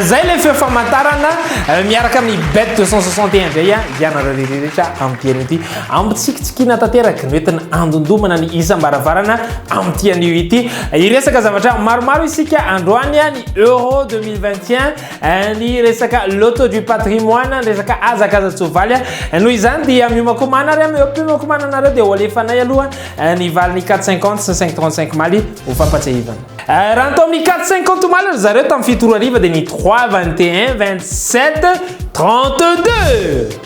zay le feo famantarana euh, miaraka amin'ny bet 261 zay a ianareo reherehetra amin'ity an'io ity ampitsikitsikiana tanteraka noentina andondomana ny isam-baravarana amin'ity an'io ity Hiresaka zavatra maromaro isika androany ny Euro 2021, ny resaka Loto du patrimoine, ny resaka hazakazan-tsoavaly. Noho izany dia miomakomana ary amin'ny miomakomana anareo dia hoalefanay aloha ny valin'ny 450 sy ny 535 maly ho fampatsiahivana. Raha ny tao amin'ny 450 maly ry zareo tamin'ny fito ora hariva dia ny 3, 21, 27, 32.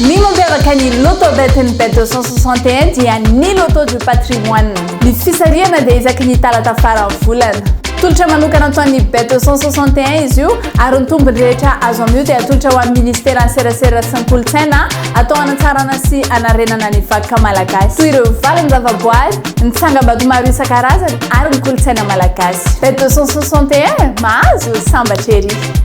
Ny mampiavaka ny Loto Betting Bet 261 dia ny Loto du Patrimoine. Ny fisarihana dia isaky ny talata faran'ny volana. Tolotra manokana atao an'ny Bet 261 izy io ary ny tombony rehetra azo amin'io dia atolotra ho an'ny Ministeran'ny Serasera sy ny Kolontsaina atao hanatsarana sy hanarenana ny vakoka malagasy toy ireo valin-javaboary, ny tsangambato maro isan-karazany ary ny kolontsaina malagasy. Bet 261, mahazo sambatra ery!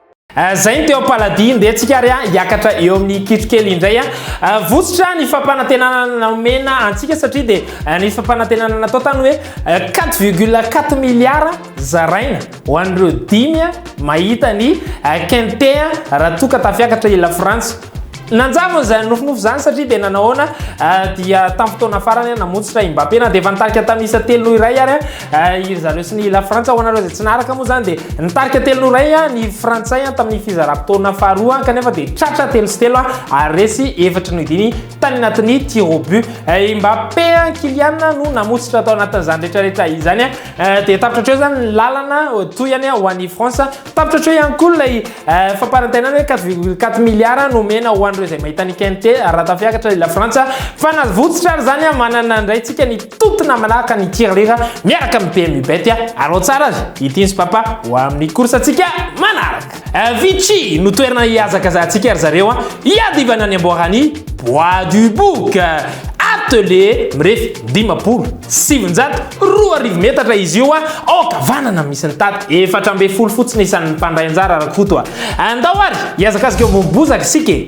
Eh, zay ny teo am-paladia, ndeha tsika ary ah, hiakatra eo amin'ny kitro kely indray ah. Eh, vositra ny fampanantenana naomena antsika satria dia eh, ny fampanantenana natao tany hoe 4,4 milliards zaraina ho an'ireo dimy mahita ny kente raha toa ka tafiakatra i Lafrantsa. Nanjavona izany nofinofy izany satria dia nanahoana dia tamin'ny fotoana farany namontsitra i Mbappé na dia efa nitarika tamin'ny isa telo noho iray ary Eh, iry zareo sy ny la frantsa ho anareo izay tsy naraka moa zany dia nitarika telo no ray ah, ny frantsay ah, tamin'ny fizaram-potoana faharoa ah, kanefa dia tratra telo sy telo ary resy efatra no diny tany anatin'ny tirobu eh, mbappe kilian no namotsitra tao anatin'izany rehetrarehetra izany eh, dia tapitra treo zany ny lalana oh, toyany ho an'ny france tapitra treo ihany koa ilay famparantainana hoe 4,4 milliard no mena ho an'ireo izay mahita ny kente raha tafiakatra la frantsa fa nazovotsitra ary zany manana andraitsika ny Tuto namanaraka ny tirelira miaraka amin'ny PMU Bet a! Alao tsara azy ity ny Spapa ho amin'ny course antsika manaraka! Avicii no toerana hihazakazahantsika ry zareo a! Hiadivana ny amboaran'ny Bois du Bouc! Atelier mirefy dimampolo sy sivinjato roa arivo metatra izy io a! Ao ankavanana misy ny tato efatra ambin'ny folo fotsiny isan'ny mpandray anjara Rakoto a! Andao ary hihazakazaka eo ambony bozaka isika e!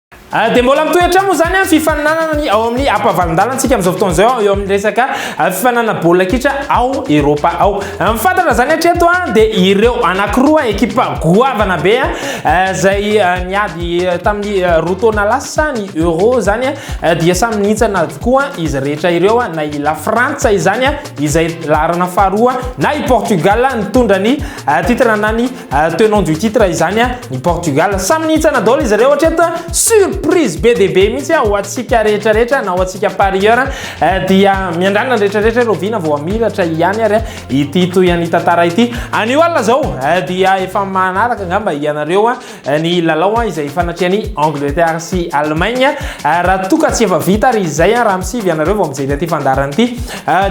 Ah, dia mbola mitohy hatrany moa izany ny fifaninanana ny ao amin'ny ampavalon-dalantsika amin'izao fotoana izao eo amin'ny resaka ah, fifaninanana baolina kitra ao Eropa ao. Ah, mifantatra izany hatreto dia ireo anankiroa ekipa goavana be izay niady tamin'ny roa taona lasa ny Euro izany dia samy nihintsana avokoa izy rehetra ireo na i La Frantsa izany izay laharana faharoa na i Portugal nitondra ny titre na ny Euh, tenant du titre izany a ny Portugal samy nihintsana daholo izy ireo hatreto surprise be dia be mihitsy ho antsika rehetra rehetra na ho antsika parieur euh, dia miandrana rehetra rehetra ireo vina vao amiratra ihany ary ity toy any tantara ity anio alina zao euh, dia efa manaraka angamba ianareo ny lalao izay fanatrehan'i Angleterre sy Allemagne raha toka tsy efa vita ary izay raha misivy ianareo vao mijery ity fandarana ity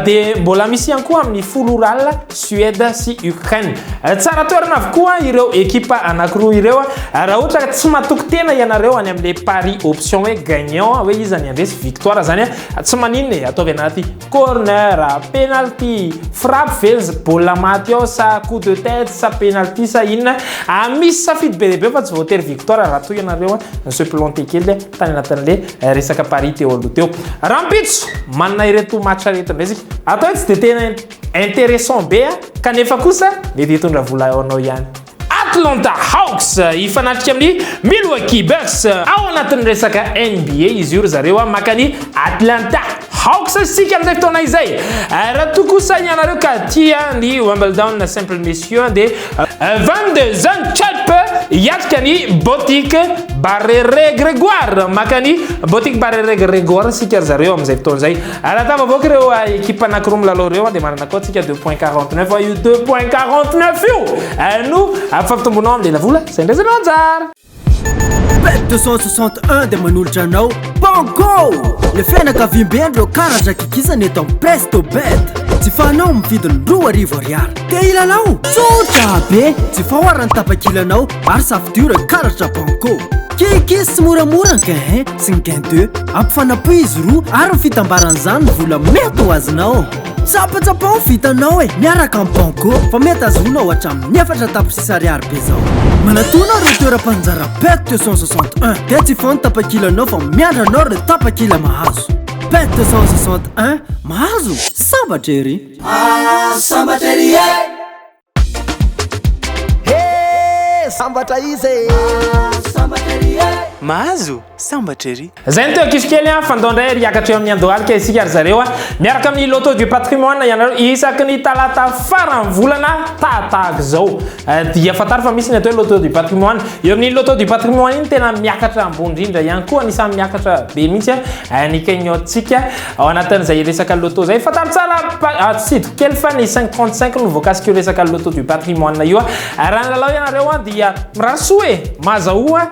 dia mbola misy ihany koa amin'ny folo orala Suède sy Ukraine. Tsara toerana avokoa ireo ekipa anankiroa ireo. Raha ohatra ka tsy matoky tena ianareo any amin'ilay pari option hoe gagnant, hoe iza ny handresy victoire zany, tsy maninona e, ataovy anaty corner, penalty, frappe ve ny baolina maty ao sa coup de tête sa penalty sa inona. Misy safidy be dia be fa tsy voatery victoire raha toa ianareo ni-se planter kely tany anatin'ilay resaka pari teo aloha teo. Rahampitso, manana ireto match ireto indray isika. Atao hoe tsy dia tena Interessant be a! Kanefa kosa mety hitondra vola ho anao ihany. Atlanta Hawks hifanatrika amin'ny Milwaukee Bucks ao anatin'ny resaka NBA izy io ry zareo a! Maka ny Atlanta Hawks isika amin'izay fotoana izay. Raha toa kosa ianareo ka tia ny Wimbledon simple messieurs dia 22 jeunes chirp hiatrika ny Boutique Barrere Grégoire. Maka ny Boutique Barrere Grégoire isika ry zareo amin'izay fotoana izay. Alatava boka ireo ekipa anankiroa milalao ireo dia manana koa tsika 2.49 io 2.49 io no afampitombonao amin'ny lelavola izay ndraisanao anjara Bet 261 dia manolotra anao Banco Le fianakaviambe ireo karazan-kikisana eto amin'ny Presto Bet Jifanao amin'ny vidiny roa arivo ariary Te hilalao? Tsotra be! Jifao ara ny tapakilanao ary safidio karatra banco. Keke sy moramora ny gain 1 sy ny gain 2. Ampifanapo izy roa ary ny fitambaran'izany ny vola mety ho azonao. Tsapatsapao ny vitanao e! Miaraka amin'ny banco fa mety azoanao hatramin'ny efatra tapitrisa ariary be izao. Manatòna ireo toeram-paninjara pet 261 dia jifao ny tapakilanao fa miandry anao ireo tapakila mahazo. Pet 261 mahazo? Sambatra ery! Ah sambatra ery e! He sambatra izy e! Ah sambatra ery e! Mahazo sambatra ery! Zay ny teo ankizy kely an, fandao indray ery hiakatra eo amin'ny Andohalika isika ry zareo an. Miaraka amin'ny Loto du Patrimoine ianareo isaky ny talata faran'ny volana tahatahaka izao. Dia fantaro fa misy ny atao hoe Loto du Patrimoine. Eo amin'ny Loto du Patrimoine iny tena miakatra ambony indrindra ihany koa, anisan'ny miakatra be mihitsy ny cagnotte-tsika. Ao anatin'izay resaka loto izay, fantaro tsara atsidiko kely fa ny 535 no voakasika io resaka loto du patrimoine io. Raha ny lalao ianareo dia mirary soa e, mazahoa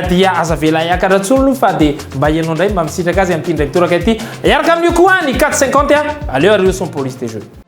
dia aza avela hiakatra intsony fa dia mba ianao indray mba misitraka azy amin'ity indray mitoraka ity. Hiaraka amin'io koa ny 450 a, aleo ary io son police de jeu.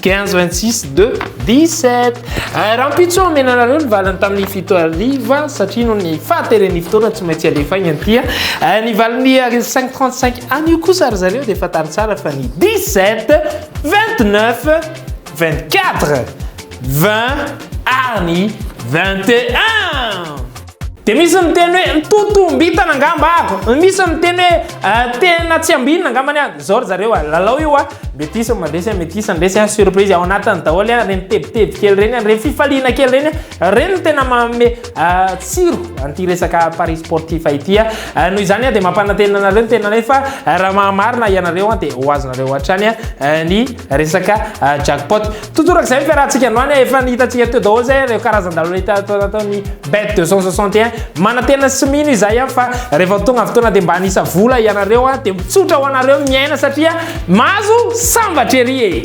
Quinze, vingt six, deux, dix sept. Eh, rahampitso omena anareo ny valiny tamin'ny fito hariva satria noho ny fahateren'ny fotoana tsy maintsy alefaigna anty. Eh, ny valiny ary cinq trente cinq anio kosa ry zareo dia fantaro tsara fa ny dix sept, vingt neuf, vingt quatre, vingt ary ny vingt et un. Dia misy ny teny hoe totombitana angamba ako. Misy ny teny hoe eh, tena tsy ambinina angamba ny zao ry zareo ah. Lalao io ah. Metisa mandresy ah, metisa andresy ah, surprise ao anatiny daholo ah, reny tebiteby kely reny ah, reny fifaliana kely reny ah. Reny no tena manome eh, tsiro an'ity resaka paris sportif ity ah. Eh, noho izany ah, dia mampanantena anareo ny tena anay fa eh, raha mahamarina ianareo ah, dia ho azonareo hatrany ah, eh, ny resaka eh, jackpot. Totorak izay ny fiarahantsika androany a, efa nihitantsika teo daholo izay ireo karazan-dalao hita tao anatin'ny bet 261. Manantena sy mino izahay a fa rehefa tonga ny fotoana dia mba hanisa vola ianareo a, dia mitsotra ho anareo ny miaina satria mahazo sambatra ery e!